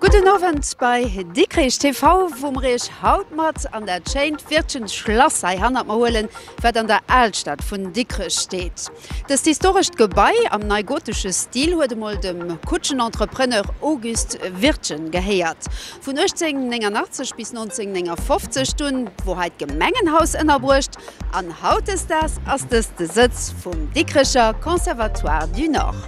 Gudden Owend bei Dikrich TV, wou mer Iech haut mat an dat schéint Wirtschens Schlass hei hannert mer huelen, wat an der Alstad vun Dikrech steet. Dëst historescht Gebai am neigotesche Stil huet emol dem Kutschenentrepreneur August Wirtgen gehéiert. Vun 1889 bis 1959 dunn wor hei d'Gemengenhaus ënnerbruecht an hautdesdaags ass dëst de Sëtz vum Dikricher Conservatoire du Nord.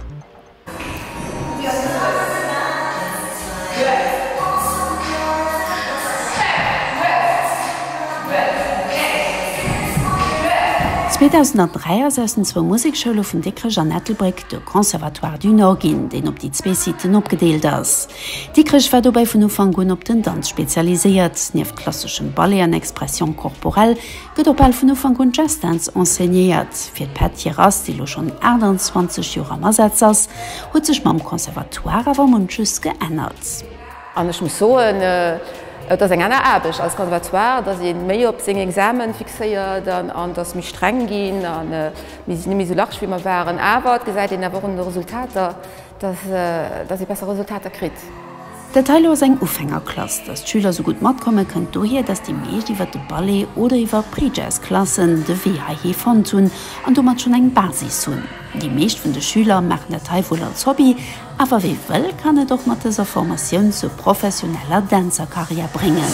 2003 ass aus den zwou Musekschoule vun Dikrech an Ettelbréck de Conservatoire du Nord ginn, deen op déi zwee Siten opgedeelt ass. Dikrech war dobäi vun Ufank un op den Danz spezialiséiert. Nieft klasseschem Ballet an Expression corporelle, gëtt och bal vun Ufank un Jazzdänz enseignéiert. Fir d'Pett Hirass, déi elo schonn 28 Joer am Asaz ass, huet sech mam Conservatoire awer munches geännert. An ech muss soen, et ass eng aner Aarbecht als Conservatoire, et ass ee méi op seng Examen fixéiert an et ass méi streng ginn an mir sinn net méi esou large wéi mer waren. Awer et gesäit een awer och un de Resultater, Dass ee besser Resultater kritt. Dat heilo ass eng Ufängerklass. Dass d'Schüler sou gutt matkommen, kënnt dohier, dass déi meescht iwwer de Ballet oder iwwer Pre-Jazz-Klassen de Wee heihi fonnt hunn an domat schonn eng Basis hunn. Déi meescht vun de Schüler maachen dat hei wuel als Hobby, awer wee wëll, kann et och mat dëser Formatioun zur professioneller Dänzerkarriär bréngen.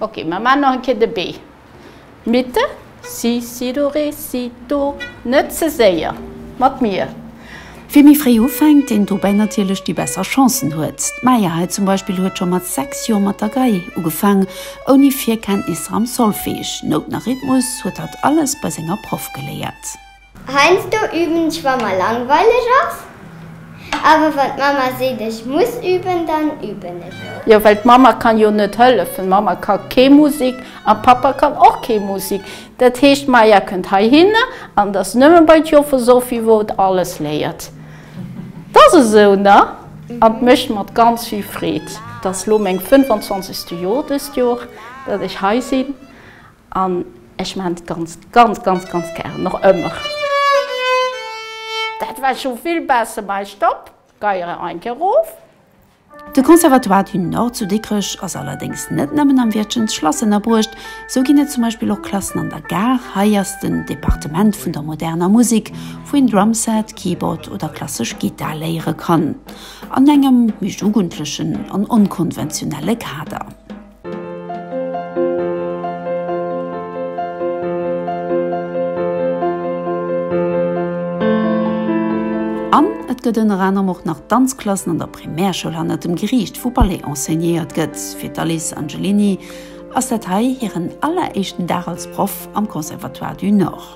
Ok, mer maan nach en Kéier de B. Mitte, Si, Si, Do, Ré, Si, Do. Net ze séier mat mir. Wie méi fréi ufänkt, deen dobäi natierlech déi besser Chancen huet. D'Maya hei zum Beispill huet scho mat 6 Joer mat der Gei ugefaang, ouni Virkenntnisser am Solfege. Nouten a Rhythmus huet hatt alles bei senger Proff geléiert. Heiansdo üben ech wa mer langweileg ass, awer wann d'Mama seet ech muss üben, dann üben ech och. Jo well d'Mama kann jo net hëllefen, Mama ka kee Musik an Papa kann och kee Musik, dat heescht Maja kënnt heihinne an et ass nëmmen bei d'Joffer Sophie wou et alles léiert. Et ass esou ne? An et mécht mer ganz vill Freed, et ass lo meng 25 ste Joer dëst Joer dat ech hei sinn. An ech maan et ganz ganz ganz ganz gären och ëmmer. Dat war schon vill besser, mais stopp, geiere ein Keier roof. De Conservatoire du Nord zu Dikrech ass allerdéngs net nëmmen am Wäertchen d'Schlass ënnerbruecht, sou ginn et zum Beispill och Klassen an der Gare. Hei ass den Departement vun der moderner Musik, wou een Drumset, Keyboard oder klassesch Gittar léiere kann an engem méi jugendlechen an onkonventionelle Kader. An et gëtt ënner anerem och nach Danzklassen an der Primärschoul hanner dem Geriicht, wou Ballet enseignéiert gëtt. Fir d'Alice Angelini ass dat hei hiren alleréischten Dag als Proff am Conservatoire du Nord.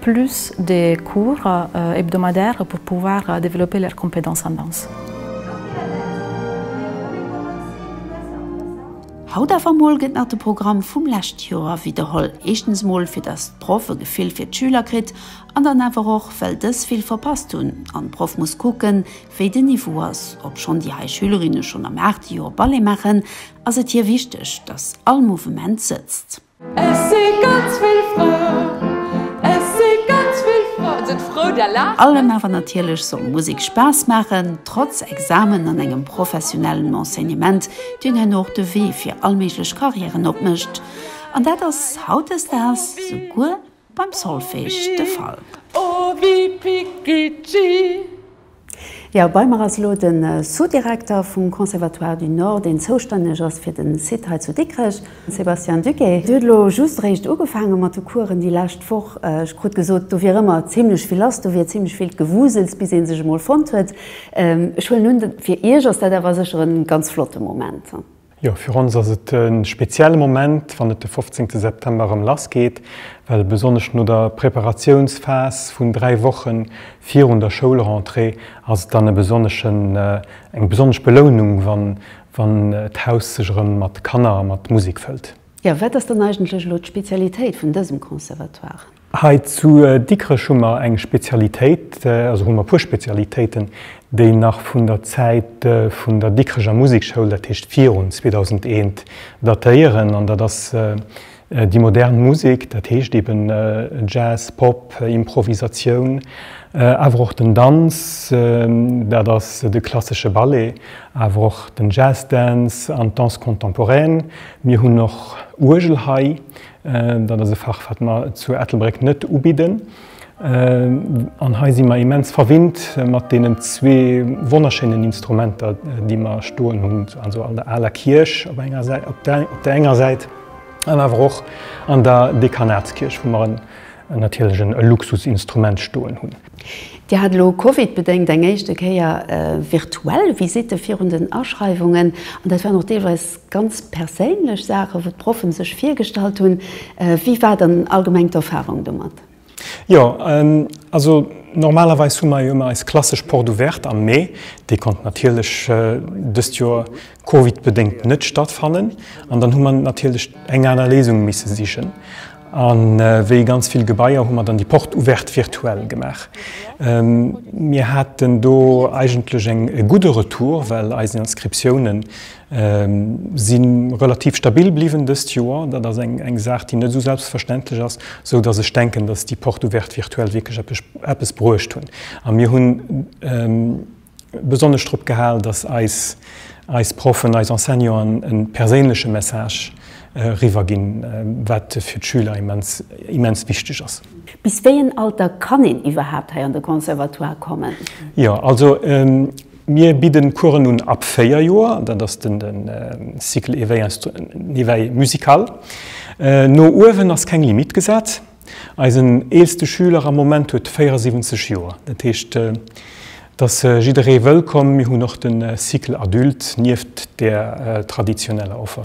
plus de cours hebdomadaires pour pouvoir développer leurs compétences en danse. Haut awer mol gëtt nach de Programm vum lescht Joer widderholl. Éischtens mol fir dass d'Proff e Gefill fir d'Schüler kritt an dann awer och well dës vill verpasst hunn an d'Proff muss kucken wéi den Niveau ass. Obschonn déi hei Schülerinne schonn am aachte Joer Ballet maachen, ass et hir wichteg dass all Mouvement sëtzt. Et si ganz vill Fraen, et si ganz vill Fraen, sidd frou der laacht net. Allem awer natierlech soll Musek Spaass maachen, trotz Examen an engem professionellen Enseignement, deen hien och de Wee fir allméiglech Carrièren opmécht. An dat ass hautdesdaags souguer Beim Solfège de Fall. O wi piccici. Jo, bei mer ass elo de Sous-Direkter vum Conservatoire du Nord, deen zoustänneg ass fir den Site hei zu Dikrech, Sébastien Duguet. Dir hutt elo just eréischt ugefaange mat de Coursen déi lescht Woch. Ech krut gesot, do wier ëmmer zimmlech vill lass, do wier zimmlech vill Gewusels, bis ee sech emol fonnt huet. Ech huelen un, fir Iech ass dat awer sécher e ganz flotte Moment. Jo, fir ons ass et e spezielle Moment, wann et de 15. September erëm lass geet, well besonnesch no der Preparatiounsphas vun dräi Woche virun der Schoulrentrée ass et dann e besonneschen, eng besonnesch Belounung, wann, wann d'Haus sech erëm mat Kanner a mat Musek fëllt. Jo, wat ass dann eigentlech elo d'Spezialitéit vun dësem Conservatoire? Hei zu Dikrech hu mer eng Spezialitéit, also hu mer e puer Spezialitéiten, déi nach vun der Zäit vun der Dikrecher Musekschoul, dat heescht virun 2001, datéieren. An dat ass déi modern Musek, dat heescht eben Jazz, Pop, Improvisatioun, awer och den Danz, dat ass de klassesche Ballet, awer och den Jazz Dance an d'Danse contemporaine. Mir hunn och Uergel hei, Dat ass e Fach, wat mer zu Ettelbréck net ubidden. An hei si mer immens verwinnt mat deenen zwee wonnerschéinen Instrumenter, déi mer stoen hunn, also an der aler Kierch op enger Säit, op der enger Säit, an awer och an der Dekanatskierch, wou mer natierlech e Luxusinstrument stoen hunn. Dir hat elo covidbedéngt eng éischte Kéier virtuell Visitte virun den Aschreiwungen, an dat waren och deelweis Ganz perséinlech Saachen, wou d'Proffen sech virgestallt hunn. Wéi war dann allgemeng d'Erfahrung domat? Jo, also normalerweis hu mer jo ëmmer eis klassesch Porte ouverte am Mee. Déi konnt natierlech dëst Joer Covid-bedéngt net stattfannen an dann hu mer natierlech eng aner Léisung misse sichen. An wéi ganz vill Gebaier hu mer dann déi Porte ouverte virtuell gemaach. Mir haten do eigentlech e gudde Retour, well eis Inscriptiounen, Si relativ stabil bliwwen dëst Joer. Dat ass eng Saach, déi net esou selbstverständlech ass, esou datt ech denken, datt déi Porte ouverte virtuell wierklech eppes bruecht hunn. A mir hu besonnesch drop gehal, datt eis Proffen, eis Enseignanten e perséinleche Message eriwwer ginn, wat fir d'Schüler immens wichteg ass. Bis wéi en Alter kann een iwwerhaapt hei an de Conservatoire kommen? Jo, also Mir bidden Coursen un ab 4 Joer, dat ass den Cycle éveil musical. No uewen ass keng Limite gesat. Eisen eelste Schüler am Moment huet 74 Joer, dat heescht et ass jidderee wëllkomm. Mir hunn och den Cycle adulte nieft der traditioneller Offer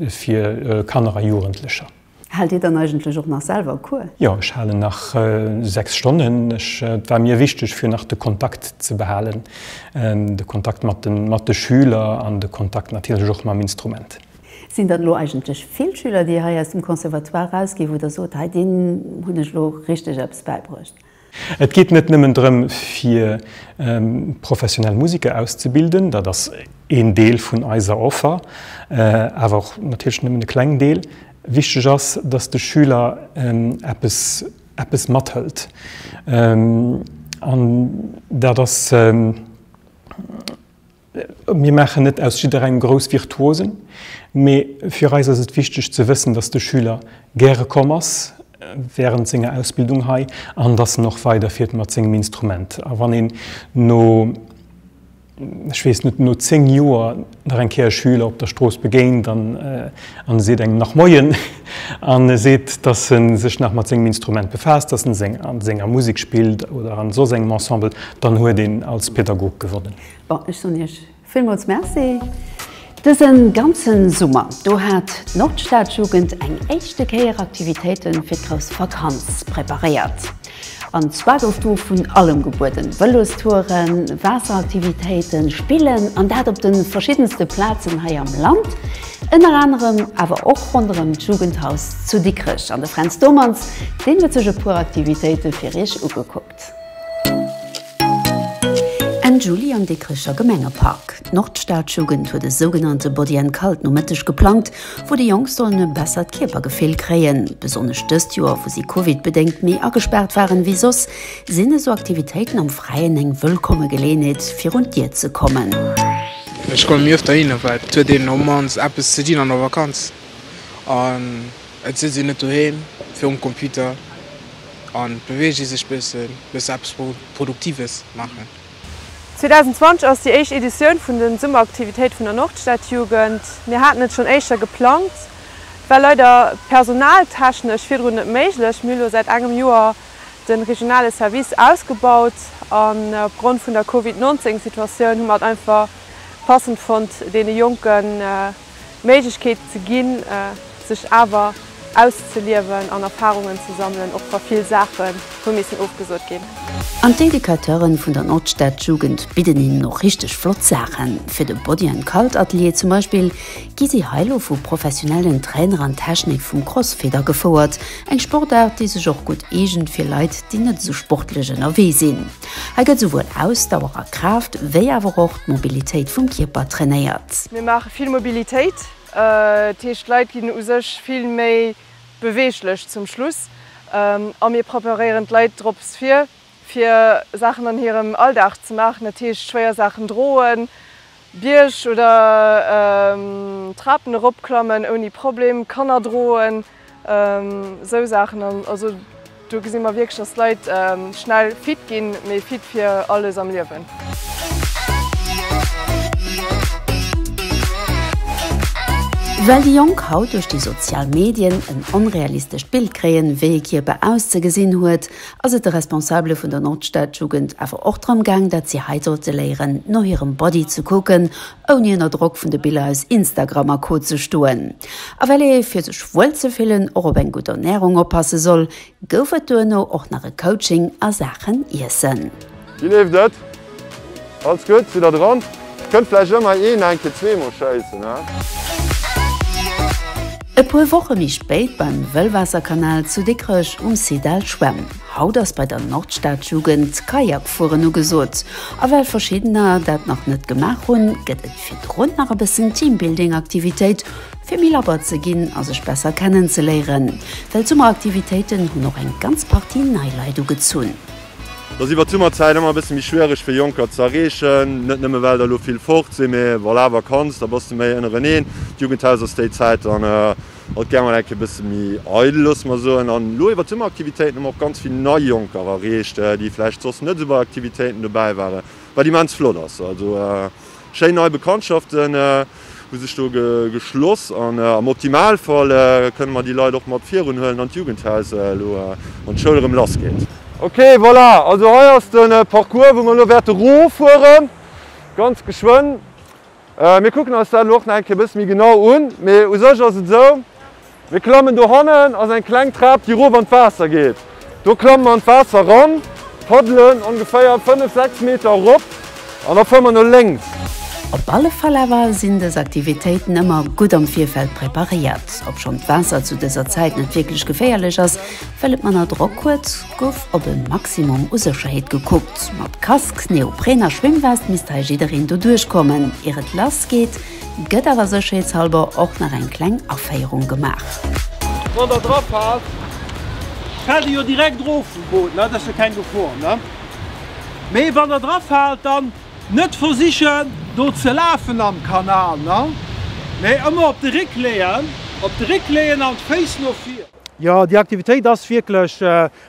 fir Kanner a Jugendlecher. Haalt Dir dann eigentlech och nach selwer Cours? Jo, ech halen nach 6 Stonnen. Ech, et war mir wichteg fir nach de Kontakt ze behalen, de Kontakt mat de mat de Schüler an de Kontakt natierlech och mam Instrument. Sinn dat elo eigentlech vill Schüler, déi hei aus dem Conservatoire erausginn, wou Der sot, hei deenen hunn ech elo richteg eppes bäibruecht? Et geet net nëmmen drëm, fir professionell Museker auszebilden, dat ass een Deel vun eiser Offer, awer och natierlech nëmmen e kleng Deel. Wichteg ass, dass de Schüler eppes, eppes mathëlt an dat ass, Mir maachen net aus jidderengem grouss Virtuosen, mee fir eis ass et wichteg ze wëssen, dass de Schüler gäre komm ass wärend senger Ausbildung hei an dass en och weiderfiert mat sengem Instrument. A wann een no, ech weess net, no zéng Joer nach eng Kéier e Schüler op der Strooss begéint an e seet engem nach Moien an e seet, dass e sech nach mat sengem Instrument befaasst, dass en a senger Musek spillt oder a soss engem Ensemble, dann huet een als Pädagog gewonnen. Bon, ech soen iech villmools Merci! Dësen ganzen Summer do hat d'Nordstadjugend eng éischte Kéier Aktivitéiten fir d'grouss Vakanz preparéiert. An zwar gouf do vun allem gebueden, Vëlostouren, Waasseraktivitéiten, Spillen an dat op den verschiddenste Plazen hei am Land, ënner anerem awer och ronderëm d'Jugendhaus zu Dikrech. An de Fränz Domanz, deen huet sech e puer Aktivitéiten fir iech ugekuckt. Enn Juli am Dikricher Gemengepark. D'Nordstadjugend huet e sougenannte Body and Cult Nomëtteg geplangt, wou déi Jonk sollen e bessert Kierpergefill kréien. Besonnesch dëst Joer, wou si Covid-bedéngt méi agespaart waren ewéi soss, sinn esou Aktivitéiten am Fräien eng wëllkomme Geleeënheet, fir un d'Dier ze kommen. Ech komme mi öfter hinner, well et huet een op mannst eppes ze dinn an der Vakanz. Et sëtzt een net doheem virum Computer an beweegt ee sech bëssen, bëssen eppes Produktives maachen. 2020 ass déi éischt Editioun vun den Summeraktivitéit vun der Nordstadjugend. Mir haten et schonn éischter geplangt, et war leider personaltechnesch virdrun net méiglech. Mir hu lo säit engem Joer den regionale Service ausgebaut an op Grond vun der Covid 19 Situatioun hu mer et einfach passend fonnt deene Jonken, D'Méiglechkeet ze ginn, sech awer auszeliewen an Erfarungen ze sammelen, och wa vill Saache hu missen ofgesot ginn. An d'Educateuren vun der Nordstadjugend bidden hinnen och richteg flott Saachen. Fir de Body an Cult Atelier zum Beispill gi si hei lo vu professionellen Trainer an d'Technik vum Crossfit agefouert, eng Sportaart déi sech och gutt eegent fir Leit déi net esou sportlech ënnerwee sinn. Hei gëtt souwuel Ausdauer a Kraaft, wéi awer och d'Mobilitéit vum Kierper trainéiert. Mir maache vill Mobilitéit, dat heescht d'Leit ginn u sech vill méi beweeglech zum Schluss a mir preparéieren d'Leit drops vir, fir Saachen an hirem Alldag ze maachen, dat heescht schwéier Saachen droen, Bierg oder Trapen eropklammen ouni Problem, Kanner droen. Esou Saachen, also do gesi mer wierklech, dass d'Leit schnell fit ginn, mee fit fir alles am Liewen. Well déi Jonk haut duerch déi sozial Medien en onrealistescht Bild kréien, wéi e Kierper auszegesinn huet, ass et de Responsabele vun der Nordstadjugend awer och drëm gaang, dat si hei sollte léieren, no hirem Body ze kucken, ouni ënner Drock vun de Biller aus Instagram a Co ze stoen. A well ee fir sech wuel ze fillen och op eng gutt Ernärung oppasse soll, gouf et duerno och nach e Coaching a Saachen Iessen. Wéi leeft et? Alles gutt? Sidd der dran? Kënnt vläicht ëmmer een eng Kéier zweemol schéissen, hä? E puer Woche méi spéit beim Wëllwaasserkanal zu Dikrech um Site Al Schwämm. Haut ass bei der Nordstadjugend d'Kajakfueren ugesot, a well verschiddener dat nach net gemaach hunn, gëtt et virdrun nach e bëssen Teambuilding-Aktivitéit, fir méi labber ze ginn a sech besser kennenzeléieren, well d'Summeraktivitéiten hunn och eng ganz Partie nei Leit ugezunn. Et ass iwwert d'Summerzäit ëmmer e bësse méi schwiereg fir Jonker ze erreechen, net nëmme well der elo vill fort sinn, mee wann awer kanns, da bass de méi ënnereneen. D'Jugendhaus ass déi Zäit dann Haut gär mol enke e bësse méi eidel, loosse mer soen. An elo iwwert d'Summeraktivitéiten hu mer och ganz vill nei Jonker erreecht, déi vläicht soss net esou bei Aktivitéiten dobäi waren, wat immens flott ass. Also schéin nei Bekanntschaften hu sech do geschloss an am Optimalfall kënne mer déi Leit och mat virun huelen, wann d'Jugendhaus elo an d'Schoul erëm lass geet. Ok, voilà, also hei ass de Parcours, wou mer elo wäerte rof fueren, ganz geschwënn. Mir kucken eis dat elo och nach eng Kéier e bësse méi genau un. Mee u sech ass et esou, Mir klammen dohannen, ass eng kleng Trap, déi erof an d'Waasser geet. Do klamme mer an d'Waasser eran, paddelen ongeféier fënnef, sechs Meter erop an da fuere mer no lénks. Op alle Fall awer sinn dës Aktivitéiten ëmmer gutt am Virfeld preparéiert. Obschonn d'Waasser zu dëser Zäit net wierklech geféierlech ass, Well et manner Drock huet, gouf op e Maximum u Sécherheet gekuckt. Mat Casque, Neopren a Schwimmwest misst hei jiddereen doduerch kommen, ier et lass geet, gëtt awer sécherheetshalber och nach eng kleng Aféierung gemaach. Wann der dra faalt, fält dir jo direkt erof vum Boot, dat ass jo keng Gefor. Mee wann der dra faalt, dann net versichen do ze lafen am Kanal, mee ëmmer op de Réck leeën, op de Réck leeën an d'Féiss no vir. Jo, déi Aktivitéit ass wierklech,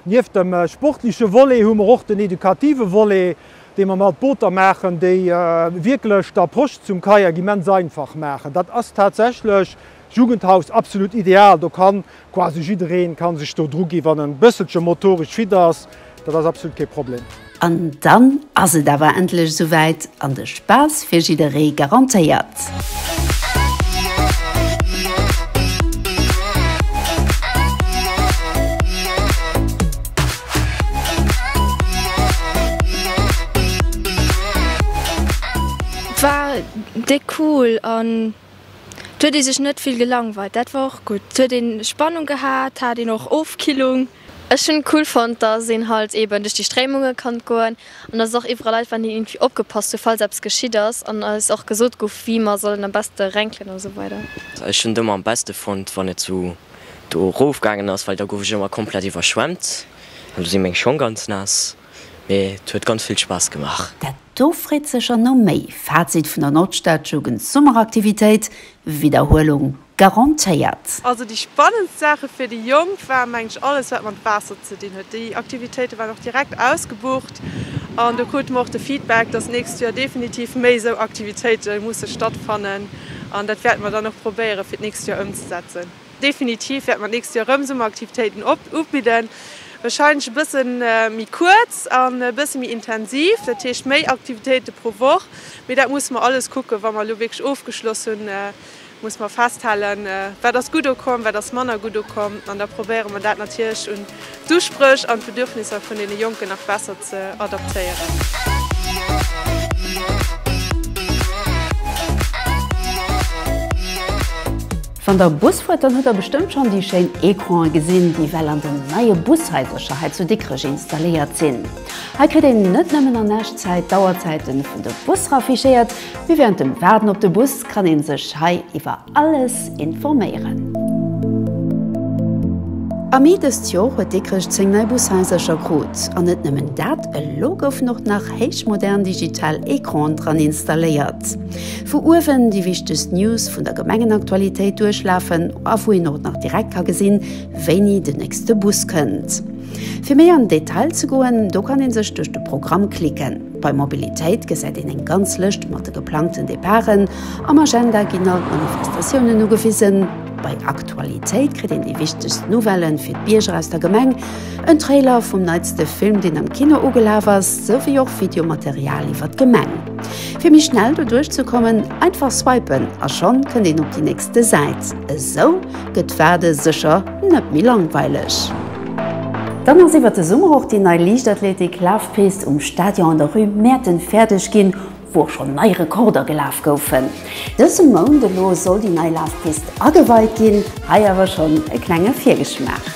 nieft dem sportleche Volet hu mer och den edukative Volet, dee mer mat Booter maachen, déi wierklech d'Approche zum Kayak immens einfach maachen. Dat ass tatsächlech Jugendhaus absolut ideal, do kann quasi jiddereen kann sech do dru ginn, wann en bësselche motoresch fit ass. Dat ass absolut kee Problem. An dann ass et awer endlech esouwäit an de Spaass fir jidderee garantéiert! War déck cool an et huet ee sech net vill gelangweilt, dat war och gutt. Et huet een Spannung gehat, hat een och Ofkillung. Ech hun cool fonnt dass een halt eben duerch déi Stréimungen kann goen an dass och iwwerall Leit waren déi irgendwie opgepasst hun falls eppes geschitt ass an eis och gesot guff wéi mer sollen am besten renkelen an sou weider. Ech hun et emmer am besten fonnt wann et sou do rof gangen ass, well da guff ech emmer komplett iwwerschwemmt an do sin meng Schong ganz naass. Mee et huet ganz vill Spass gemaach. Dat do freet sécher no méi! Fazit vun der Nordstadjugendsummeraktivitéit, Widderhuelung garantéiert. Also déi spannendst Saache fir déi Jonk war mengen ech alles wat mat Waasser ze dinn huet. Déi Aktivitéite waren och direkt ausgebucht an do krute mer och de Feedback, dass nächst Joer definitiv méi esou Aktivitéite musse stattfannen an dat wäerte mer dann och probéiere fir d'nächst Joer ëmzesetzen. Definitiv wäerte mer d'nächst Joer erëm Summeraktivitéiten ubidden, wahrscheinlech e bësse méi kuerz an e bësse méi intensiv, dat heescht méi Aktivitéite pro Woch, mee dat musse mer alles kucken, wa mer elo wierklech ofgeschloss hunn muss mer festhalen, wat ass gutt ukomm, wat ass manner gutt ukomm, an da probéiere mer dat natierlech un d'Uspréch an d'Bedürfnisser vun deene Jonken nach besser ze adaptéieren. Wann der Bus fuert, dann hutt der bestëmmt schonn déi schéin Ecrane gesinn, déi well an den neie Bushaisercher hei zu Dikrech installéiert sinn. Hei kritt een net nëmmen an Echtzäit d'Auerzäite vun de Busser affichéiert, Mee während dem Waarden op de Bus kann een sech hei iwwer alles informéieren. Am Mee dëst Jor huet Dikrech 10 nei Bushaisercher krut. An net nëmmen dat, elo goufen och nach héichmodern digital Ecranen dran installéiert, wou uewen déi wichtegst News vun der Gemengenaktualitéit duerchlafen a wou een och nach direkt ka gesinn, wéini den nächste Bus kënnt. Fir méi an den Detail ze goen, do kann een sech duerch de Programm klicken. Bei Mobilitéit gesäit een eng ganz Lëscht mat de geplangten Departen. Am Agenda ginn all d'Manifestatiounen ugewisen. Bei Aktualitéit kritt een déi wichtegst Nouvellen fir d'Bierger aus der Gemeng, en Trailer vum neitste Film, deen am Kino ugelaf ass, souwéi och Videomaterial iwwer d'Gemeng. Fir méi schnell doduerch ze kommen, einfach swipen a schonn kënnt een op déi nächste Säit. Esou. Gëtt d'Waarde sécher net méi langweileg! Dann ass iwwert de Summer och déi nei Liichtathletik-Lafpist um Stadion an der Rue Mäerten fäerdeg ginn, wou och schonn nei Rekorder gelaf goufen. Dëse Mount elo soll déi nei Lafpist ageweit ginn, hei awer schonn e klenge Virgeschmaach.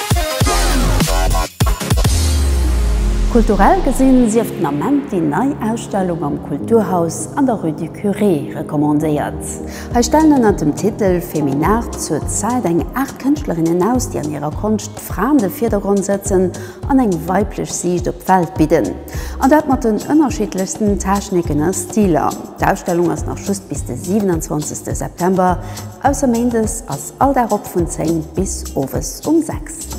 Kulturell gesinn sief den Ament déi nei Ausstellung am Kulturhaus an der Rue du Curé recommandéiert. Hei stellen ënnert dem Titel Feminart zur Zäit eng Aart Kënschtlerinnen aus, déi an hirer Konscht d'Fra an de Virdergrond sëtzen an eng weiblech Siicht op d'Welt bidden. An dat mat den ënnerschiddlechsten Techniken a Stiler. D'Ausstellung ass nach just bis de 27 September, ausser Méindes a. All Dag op vun 10 bis owes um 6.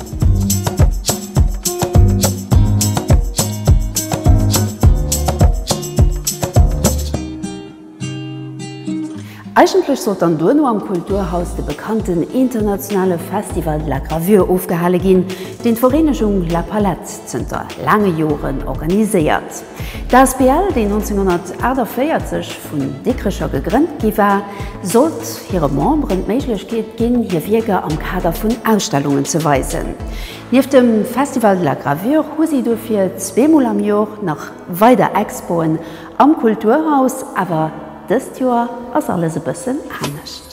Eigentlech sollt dann duerno am Kulturhaus de bekannten internationale Festival de la Gravure ofgehale ginn, deen d'Vereenegung La Palette zënter laange Joren organiséiert. D'asbl, déi 1948 vun Dikrecher gegrënnt gi war, sollt hire Memberen d'Méiglechkeet ginn, hir Wierker am Kader vun Ausstellungen ze weisen. Nieft dem Festival de la Gravure hu si dofir zweemol am Jor nach weider Expoen am Kulturhaus. Awer dëst Joer ass alles e bëssen anescht.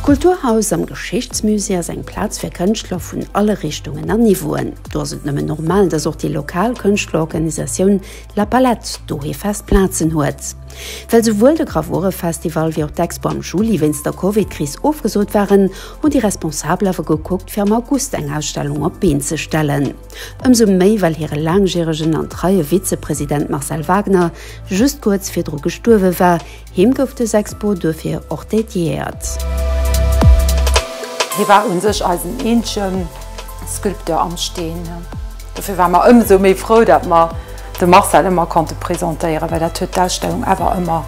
D'Kulturhaus am Geschichtsmusée ass eng Plaz fir Kënschtler vun alle Richtungen a Niveauen. Do ass et nëmmen normal, dass och déi lokal Kënschtlerorganisatioun La Palette dohi fest Plazen huet. Well souwuel de Gravurefestival wéi och d'Expo am Juli wéinst der Covid-Kris ofgesot waren, hunn déi Responsabel awer gekuckt, fir am August eng Ausstellung op d'Been ze stellen. Ëmsou méi, well hire laangjäregen an treie Vizepresident Marcel Wagner just kuerz virdru gestuerwe war. Him gouf dës Expo duerfir och dediéiert. Hie war u sech eisen eenzege Sculpteur am Steen. Dofir ware mer ëmsou méi frou, datt mer de Marcel ëmmer konnte presentéieren, well dat huet d'Ausstellung awer ëmmer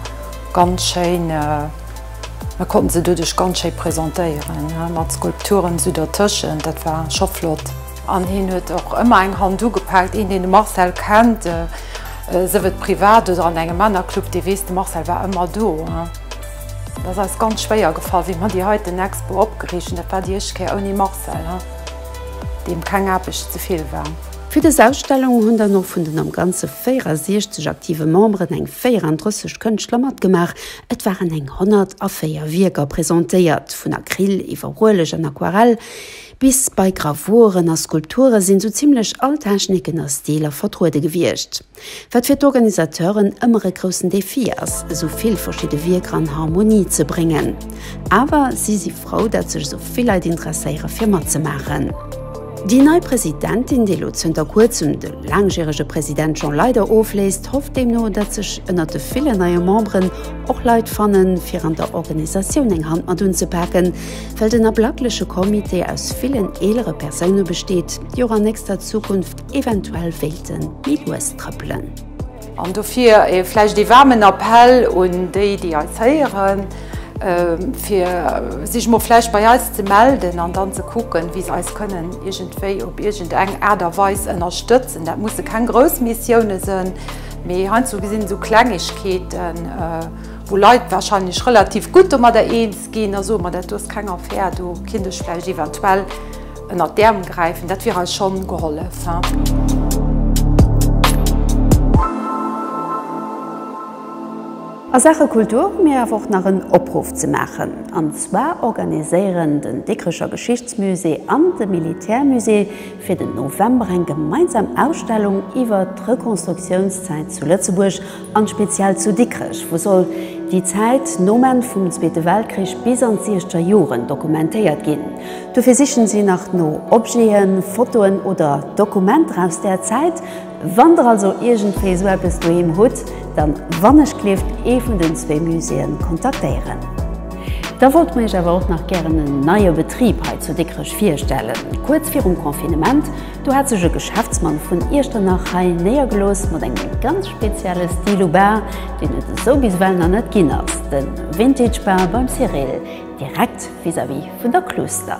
ganz schéin, mer konnten se doduerch ganz schéi presentéieren, mat Skulpturen esou dertëschent, dat war scho flott. An hien huet och ëmmer eng Hand ugepaakt. Een, deen de Marcel kennt, sëf et privat oder an engem Männerclub, dee weess, de Marcel war ëmmer do. Et ass eis ganz schwéier gefall, wéi mer déi heiten Expo opgeriicht hunn. Dat war déi éischt Kéier ouni Marcel, deem keng Aarbecht ze vill war. Fir dës Ausstellung hunn dann och vun den am Ganze 64 aktive Memberen eng 34 Kënschtler matgemaach. Et waren eng 104 Wierker presentéiert, vun Acryl iwwer Ueleg an Aquarell Bis bei Gravuren a Skulpture sinn sou zimlech all Techniken a Stiler vertruede gewiescht, wat fir d'Organisateuren ëmmer e groussen Defi ass, esou vill verschidde Wierker an Harmonie ze bréngen. Awer si si frou, datt sech esou vill Leit interesséiere fir matzemaachen. Déi nei Presidentin, déi elo zënter kuerzem de laangjärege President Jean Leyder ofléist, hofft deemno, datt sech ënnert de villen neie Memberen och Leit fannen, fir an der Organisatioun eng Hand mat unzepaken. Well den ablackleche Comité aus villen eelere Persoune besteet, déi och an nächster Zukunft eventuell wéilte méi lues trëppelen. An dofir vläicht ee waarmen Appell un déi, déi eis héieren, fir sech mol vläicht bei eis ze melden an dann ze kucken, wéi se eis kënnen iergendwéi op iergendeng Aart a Weis ënnerstëtzen. Dat musse keng grouss Missioune sinn, mee heiansdo gesinn esou Klengegkeeten, wou Leit warscheinlech relativ gutt domadder eens. Ginn, da soe mer, dat do ass keng Affär, do kinnt ech vläicht eventuell ënnert d'Äerm gräifen, dat wier eis schonn gehollef. A Saache Kultur hu mir awer och nach en Opruff ze maachen. An zwar organiséieren den Dikrecher Geschichtsmusée an de Militärmusée fir den November eng gemeinsam Ausstellung iwwert d'Rekonstruktiounszäit zu Lëtzebuerg an speziell zu Dikrech, wou soll déi Zäit nom Enn vum Zweete Weltkrich bis an d'siechzeger Joren dokumentéiert ginn. Dofir sichen si nach no Objeten, Fotoen oder Dokumenter aus där Zäit. Wann der also iergendwéi esou eppes doheem hutt, dann wannechgleeft ee vun den zwee Muséeën kontaktéieren. Da wollte mer iech awer och nach gären en neie Betrib hei zu Dikrech virstellen. Kuerz virum Confinement, do hat sech e Geschäftsmann vun Iechternach hei néiergelooss mat engem ganz spezielle Stil u Bar, deen et esou bis ewell nach net ginn ass, de Vintage Bar beim Cyrille, direkt vis-à-vis vun der Kluuster.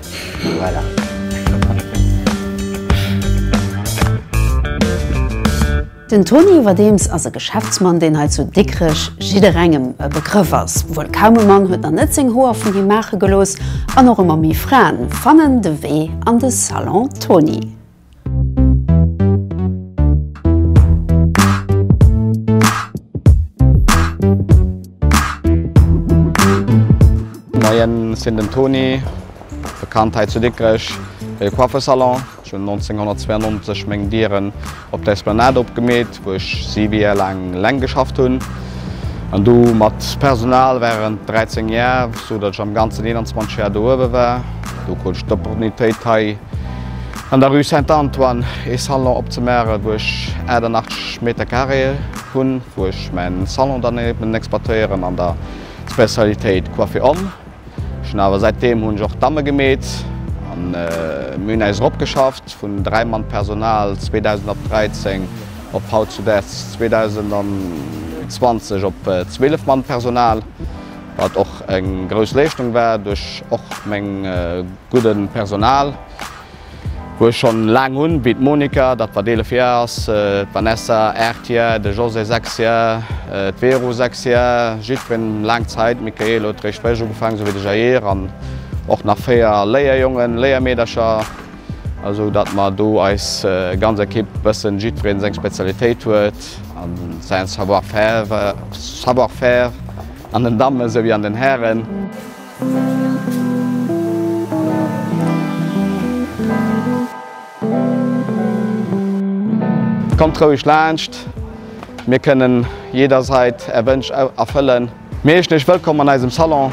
Den Toni iwwerdeems ass e Geschäftsmann, deen hei zu Dikrech jidderengem e Begrëff ass. Wuel kaum e Mann huet nach net seng Hoer vun him maache gelooss an och ëmmer méi Fraen fannen de Wee an de Salon Toni. Moien, ech sinn den Toni, bekannt hei zu Dikrech fir de Coiffersalon. Ech hunn 1992 meng Dieren op der Esplanade opgemeet. wou ech 7 Jär laang eleng geschafft hunn an du mat Personal während 13 Jär, sou datt ech am ganzen 21 Jär do uewe war. Do krut ech d'Opportunitéit hei an der Rue Saint-Antoine ee Salon opzemaachen, wou ech 88 Meter Carréë hunn, wou ech mäin Salon dann eben exploitéieren an der Spezialitéit Coiffer Homme. Schon awer säit deem hunn ech och d'Damme gemeet an mir hunn äis eropgeschafft vun 3 Mann Personal 2000 op 13 op hautzudes 2020 op 12 Mann Personal, wat och eng grouss Leeschtung war duerch och meng gudden Personal. Wou ech schon laang hun, wéi d'Monika, dat wat 11 Jar ass, d'Vanessa 8 Jar, de José 6 Jar, d'Vero 6 Jar, jiddween laang Zait, d'Mikaël huet réischt fréisch ugefaang, sou wéi de Jair, an och nach 4 Léierjongen, Léiermeedercher, sou dat mer do eis ganz Ekipp bëssen jiddween seng Spezialitéit huet an sain Savoir-faire an den Dammen sou wéi an den Hären. Kommt roueg laanscht, mir kënnen jederzait är Wënsch erfëllen. Mir heeschen iech wëllkomm an eisem Salon,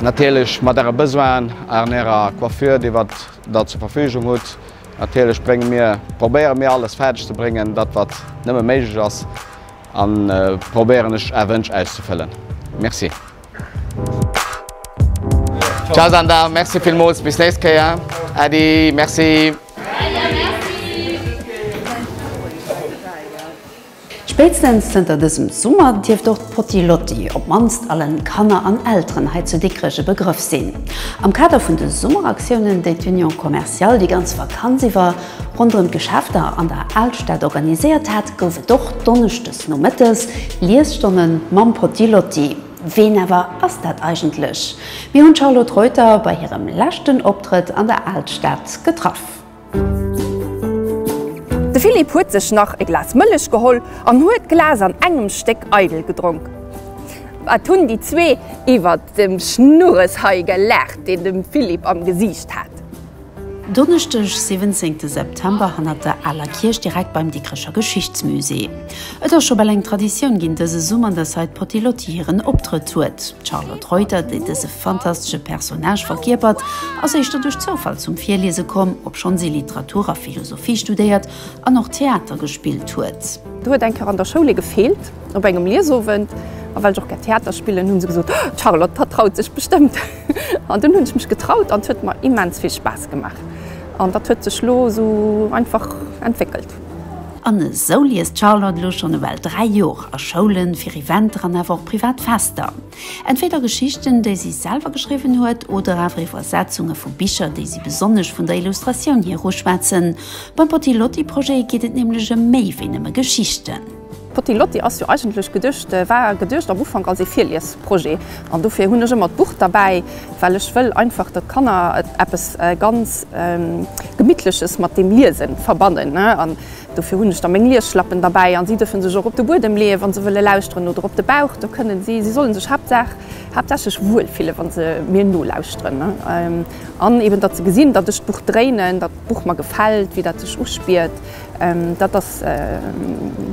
natierlech mat äre Besoinen an ärer Coiffure déi wat der zur Verfügung hutt. Natierlech brénge mir, probéiere mir alles fäerdeg ze bréngen dat wat nëmme méiglech ass an probéieren ech är Wënsch auszefëllen. Merci. Ciao Sanda, merci villmols, bis nächst Kéier. Äddi, merci. Spéitstens zënter dësem Summer dierft och d'Potty-Lotty op mannst allen Kanner an Elteren hei zu Dikrech e Begrëff sinn. Am Kader vun de Summeraktioune, déi d'Union Commerciale déi ganz Vakanz iwwer, Ronderëm d'Geschäfter an der Alstad organiséiert hat, gouf et och donneschdes nomëttes Liesstonnen mam Potty Lotty. Ween awer ass dat eigentlech? Mir hunn d'Charlotte Reuter bei hirem leschten Optrëtt an der Alstad getraff. De Philippe huet sech nach e Glas Mëllech geholl an huet d'Glas an engem Stéck eidel gedronk. Wat hunn déi zwee iwwert dem Schnurres hei gelaacht, deen dem Philippe am Gesiicht hat. Donneschdeg 17 de September hannert der Aler Kierch direkt beim Dikrecher Geschichtsmusée. Et ass scho bal eng Traditioun ginn dëse Summer, datt hei d'Potty-Lotty hiren Optrëtt huet. D'Charlotte Reuter, déi dëse fantastesche Personnage verkierpert, ass éischter duerch Zoufall zum Virliese komm, obschonn si Literatur a Philosophie studéiert an och Theater gespillt huet. Do huet eng Kéier an der Schoul ee gefeelt op engem Liesowend, a well ech och gär Theater spillen, hu se gesot, D'Charlotte vertraut sech bestëmmt. An dunn hunn ech mech getraut an et huet mer immens vill Spaass gemaach. An dat huet sech elo esou einfach entwéckelt. An esou liest d'Charlotte elo schonn ewell dräi Jor a Schoulen, fir Eventer an awer och privat Fester. Entweder Geschichten, déi si selwer geschriwwen huet oder awer Iwwersetzunge vu Bicher, déi si besonnesch vun der Illustratioun hier uschwätzen. Beim Potti Lotti Projet geet et nämlech ëm méi wéi nëmme Geschichten. D'Potty Lotty ass jo eigentlech geduecht, war geduecht am Ufank als ee Virliesprojet. An dofir hunn ech ëmmer d'Buch derbäi, well ech wëll einfach, datt d'Kanner eppes ganz Gemittleches mat dem Liese verbannen. An dofir hunn ech da meng Liesschlappen derbäi an si dërfe sech och op de Buedem leeën, wa se wëlle lauschteren, oder op de Bauch. Do kënnen si, si solle sech haaptsaach, haaptsächlech wuel fillen, wa se mir nolauschteren. An eeben, datt se gesinn, datt ech d'Buch dréinen. Buch mer gefällt, wéi dat sech uspiert. Dat ass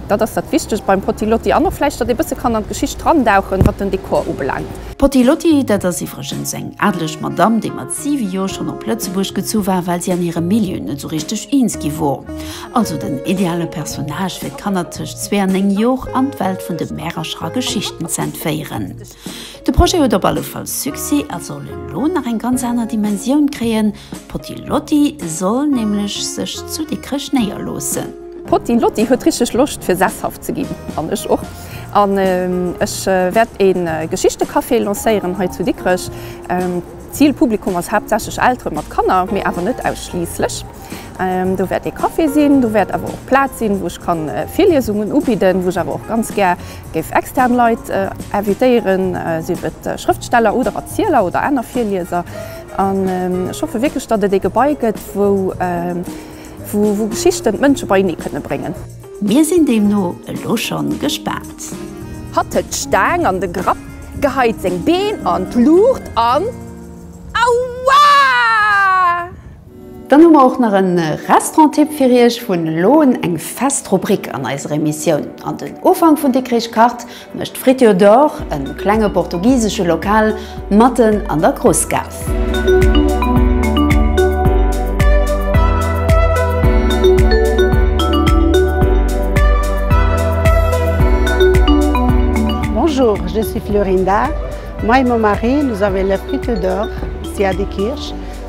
dat ass dat Wichtegt beim Potti Lotti an och vläicht, datt ee bësse kann an d'Geschicht drandauchen, wat den Dekor ubelaangt. D'Potti Lotti, dat ass iwwregens eng adeleg Madamm, déi mat siwe Jor schonn op Lëtzebuerg gezu war, well si an hirem Milieu net sou richteg eens gi wor. Also den ideale Personnage fir d'Kanner tëscht zwee an néng Jor an d'Welt vun de Märercher a Geschichten z'entféieren. De Projet huet op alle Fall Succès a soll elo nach eng ganz aner Dimensioun kréien, D'Potti Lotti soll nämlech sech zu Dikrech néierloossen. D'Potti Lotti huet richteg Loscht fir sesshaft ze ginn, an ech och. An ech wäert e Geschichtecafé lancéieren hei zu Dikrech. D'Zilpublikum ass haaptsächlech Eltere mat Kanner, mee awer net ausschliisslech. Do wäert ee Café sinn, do wäert awer och Plaz sinn, wou ech ka Virliesungen ubidden, wou ech awer och ganz gär Géif extern Leit invitéieren, sief et Schrëftsteller oder Erzieler oder aner Virlieser. An ech hoffe wierklech, datt et ee Gebai gëtt, wou Geschichten d'Mënsche beienee kënne bréngen. Mir sinn deemno elo schonn gespaant. Hatt huet d'Staang an de Grapp geheit, seng Been an d'Luucht an, Aua! Dann hu mer och nach en Restauranttipp fir iech. Vun elo un eng fest Rubrik an eiser Emissioun. An den Ufank vun Dikrich kacht mécht Friture d'Or, en klenge portugisesche Lokal matten an der Groussgaass. Bonjour, je suis Florinda, moi et mon mari nous avons la Friture d'Or ici à Dikrich.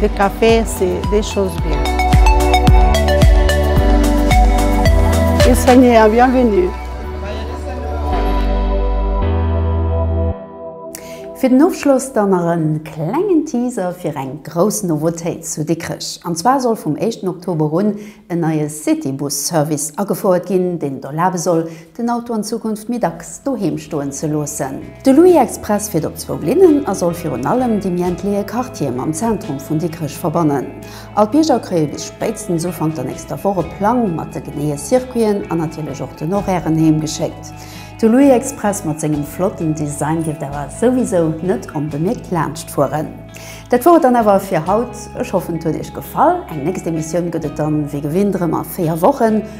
De Café, c'est des choses bien. Ils sont les bienvenus. Fir den Ofschloss dann nach en klengen Teaser fir eng grouss Novotéit zu Dikrech. An zwar soll vum éischten Oktober un en neie Citybus-Service agefouert ginn, deen et erlabe soll, den Auto an Zukunft méi dacks doheem stoen ze loossen. De Louis Express fiert op zwou Linnen a soll virun allem de méi entleeë Quartiere mam Zentrum vun Dikrech verbannen. All d'Bierger kréie bis spéitstens Ufank der nächster Woch e Plang mat de geneeë Circuiten an natierlech och den Horairen heem geschéckt. De Louis Express mat sengem flotten Design dierft awer souwisou net onbemierkt laanscht fueren. Dat wor et dann awer fir haut. Ech hoffen et huet iech gefall. Eng nächst Emissioun gëtt et dann wéi gewinnt erëm a 4 Wochen.